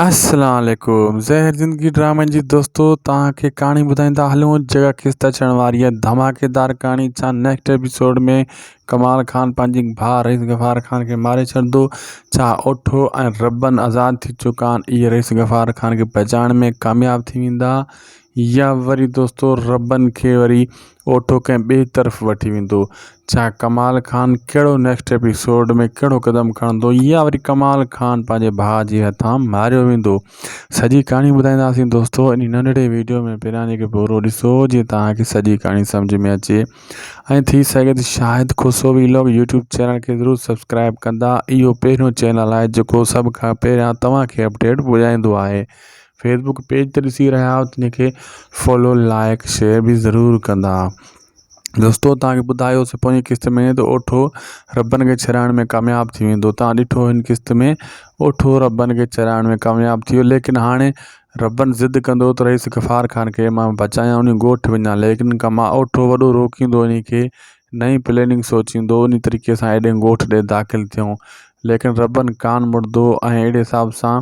السلام عليڪم زهر زندگي ڊرامن جي دوستو توهان کي ڪهاڻي ٻڌائيندا هلون جيڪا خسته ڇڻ واري آهي ڌماڪيدار ڪهاڻي ڇا نيڪسٽ ايپيسوڊ ۾ ڪمال خان پنهنجي ڀاء رئيس غفار خان کي ماري ڇڏندو ڇا اوٺو ۽ ربن آزاد ٿي چڪا آهن اهي رئيس غفار خان کي بچائڻ ۾ ڪامياب ٿي ويندا يا وري دوستو ربن کي وري اوٺو ڪنهن ٻئي طرف وٺي ويندو ڇا ڪمال خان ڪهڙو نيڪسٽ ايپيسوڊ ۾ ڪهڙو قدم کڻندو يا وري ڪمال خان پنهنجي ڀاء جي هٿان ماريو ويندو سڄي ڪهاڻي ٻڌائينداسين دوستو ان ننڍڙي ويڊيو ۾ پهريان جيڪي پورو ڏسو جيئن توهان کي سڄي ڪهاڻي سمجھ ۾ اچي ۽ ٿي سگهي ته Shahid Khoso vlog YouTube channel کي ضرور سبسڪرائب ڪندا اهو پهريون چينل آهي جيڪو سڀ کان پهريان توهان کي اپڊيٽ پڄائيندو آهي فيسبوڪ پيج ته ڏسي رهيا آهيو تنهن کي فالو لائق شيئر بي ضرور ڪندا دوستو تان کي ٻڌايو سي پوئين قسط ۾ ته اوٺو ربن کي چرائڻ ۾ ڪامياب ٿي ويندو تان ڏٺو هن قسط ۾ اوٺو ربن کي چرائڻ ۾ ڪامياب ٿيو ليڪن هاڻي ربن ضد ڪندو ته رئيس غفار خان کي مان بچايان انهي ڳوٺ وڃان ليڪن کان مان اوٺو وڏو روڪيندو انهي کي نئين پليننگ سوچيندو انهي طريقي سان ايڏي ڳوٺ ڏي داخل ٿيو ليڪن ربن ڪان مڙدو ۽ اهڙي حساب سان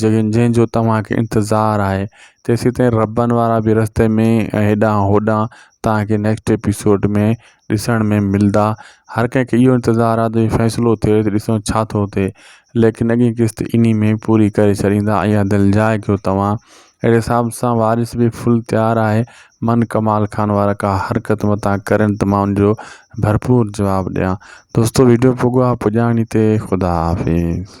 جنهن جنهن جو توهان کي انتظار آهي تيسين تائين ربن وارا به رستي ۾ هيڏانهن هوڏانهن توهان کي نيڪسٽ ايپيسوڊ ۾ ڏسڻ ۾ ملدا هر ڪنهن کي اهو انتظار آهي ته فيصلو ٿئي ته ڏسون ڇا ٿو ٿئي ليڪن اڳي قسط انهي ۾ پوري ڪري ڇڏيندا اها دل جاء ڪيو توهان اهڙي حساب سان وارث به فل تيار آهي من ڪمال خان وارا ڪا حرڪت متان ڪرن ته مان ان جو ڀرپور جواب ڏيان دوستو ويڊيو پڳو آهي پڄاڻي تي خدا حافظ